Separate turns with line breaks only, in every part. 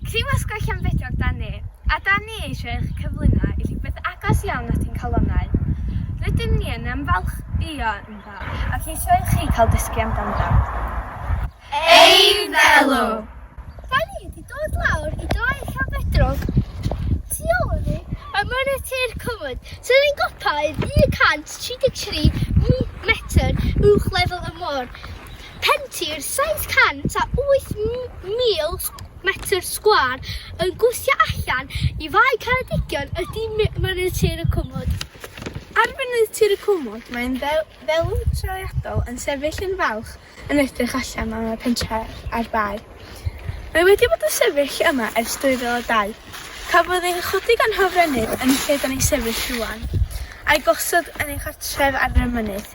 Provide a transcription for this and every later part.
Criw Asgwrn Llanbedrog 'da ni, a 'da ni eisiau eich cyflwyno i rhywbeth agos iawn at ein calonnau. Rydym ni yn ymfalchïo ynddo ac eisiau i chi cael dysgu amdano. Eiddelu! Rhaid iddi
dod lawr i Draig Llanbedrog, tu ôl i ni, a mynydd tir Cymru, sydd yn gopaidd 133 metr uwch lefel y môr. Pentir 708,000 metr sgwâr yn gwthio allan i Fae Ceredigion ydy mynydd tir y Cwmwd. Ar
fynydd tir y Cwmwd mae'n ddelw trawiadol yn sefyll yn falch yn edrych allan am y pentref a'r bae. Mae wedi bod yn sefyll yma ers 2002. Cafodd ei chodi gan hofrennydd yn y lle dan ni'n sefyll rwan, a'i gosod yn ei chartref ar y mynydd.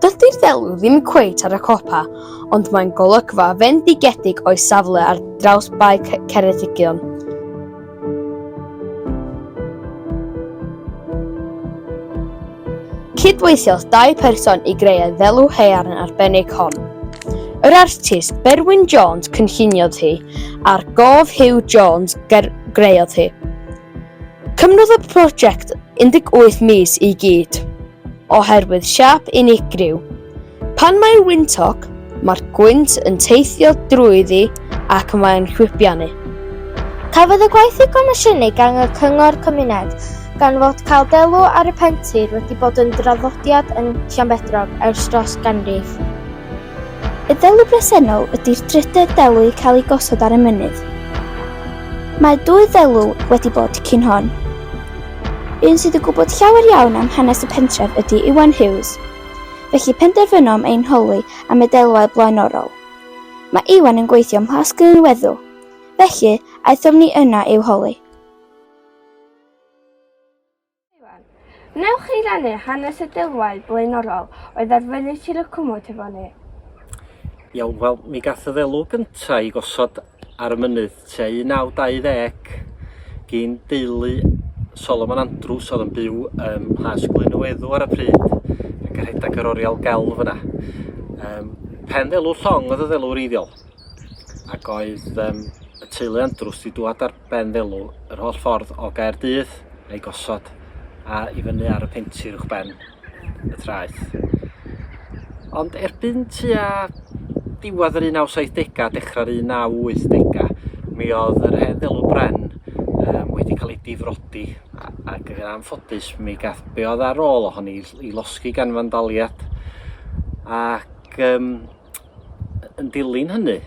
Dydy'r ddelw ddim cweit ar y copa, ond mae'n golygfa fendigedig o'i safle ar draws Bae Ceredigion. Cydweithiodd dau person i greu y ddelw haearn arbennig hon. Yr artist Berwyn Jones cynlluniodd hi, a'r gof Hugh Jones greodd hi. Cymrodd y prosiect 18 mis i gyd, oherwydd siap unigryw. Pan mae'n wyntog, mae'r gwynt yn teithio drwyddi ac mae'n chwipianu.
Cafodd y gwaith ei gomisiynu gan y Cyngor Cymuned, gan fod cael delw ar y pentir wedi bod yn draddodiad yn Llanbedrog ers dros ganrif. Y delw bresennol ydy'r drydedd delw i cael ei gosod ar y mynydd. Mae dwy ddelw wedi bod cyn hon. Un sydd yn gwybod llawer iawn am hanes y pentref ydy Iwan Hughes, felly penderfynom ein holi am y delwau blaenorol. Mae Iwan yn gweithio ym Mhlas Glynweddw, felly aethom ni yna i'w holi.
Wnewch chi rannu hanes y deulwau blaenorol oedd ar fyny Tir y Cwmwd hefo ni?
Iawn, wel, mi gath y ddelw gyntaf i gosod ar y mynydd tua 1920 gyn deulu Solomon Andrews oedd yn byw ym Mhlas Glynweddw ar y pryd ac yn rhedeg yr oriel gelf yna. Um, pen ddelw llong oedd y ddelw wreiddiol ac oedd um, y teulu Andrews wedi dŵad ar ben ddelw yr holl ffordd o Gaerdydd a'i gosod a i fyny ar y pentir uwch ben y traeth. Ond erbyn tua diwedd yr 1970 a dechrau'r 1980 mi oedd yr hen ddelw bren um, wedi cael ei difrodi ac yn anffodus mi gath be oedd ar ôl ohon ni i losgi gan fandaliad ac um, yn dilyn hynny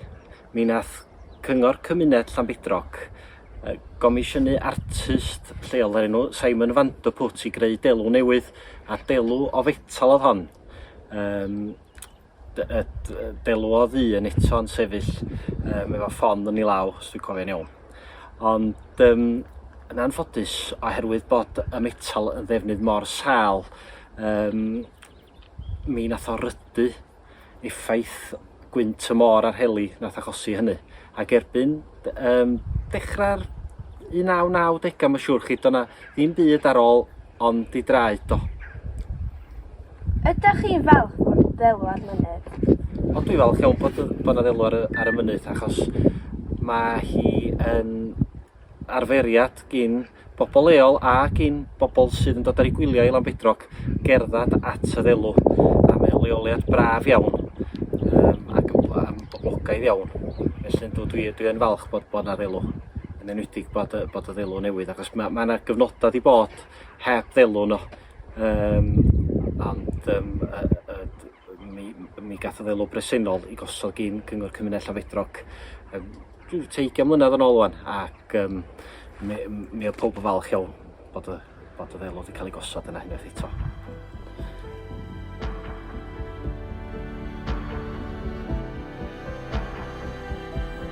Mi wnaeth Cyngor Cymuned Llanbedrog gomisiynu artist lleol o'r enw Simon Vanderput i greu delw newydd, a delw o fetal oedd hon. Um, delw o ddu yn eto yn sefyll um, efo ffon yn ei law, os dwi'n cofio'n iawn. Ond um, yn anffodus, oherwydd bod y metal yn ddefnydd mor sal, um, mi nath o rydu effaith gwynt y môr a'r heli nath achosi hynny. Ac erbyn um, dechrau'r 1990 mae'n siŵr chi, do'na ddim byd ar ôl ond di draed do. Ydych
chi'n falch bod ddelw ar mynydd? O, dwi'n falch
iawn bod, bod na ddelw ar, ar y mynydd achos mae hi yn arferiad gyn bobl leol ac i'n bobl sydd yn dod ar eu gwyliau i Lanbedrog gerdded at y ddelw a mae'n leoliad braf iawn um, ac yn boblogaidd iawn. Felly dwi, dwi, dwi yn falch bod, bod na ddelw yn enwedig bod, bod y ddelw newydd achos mae yna ma gyfnodau wedi bod heb ddelw no. Um, ond um, uh, uh, Mi, mi gath o ddelw bresennol i gosod gyn Cyngor Cymuned Llanfedrog um, rhyw teigiau mlynedd yn ôl o'n, ac um, mi, mi oedd pob yn falch iawn bod y, bod y ddelw wedi cael ei gosod yna unwaith eto.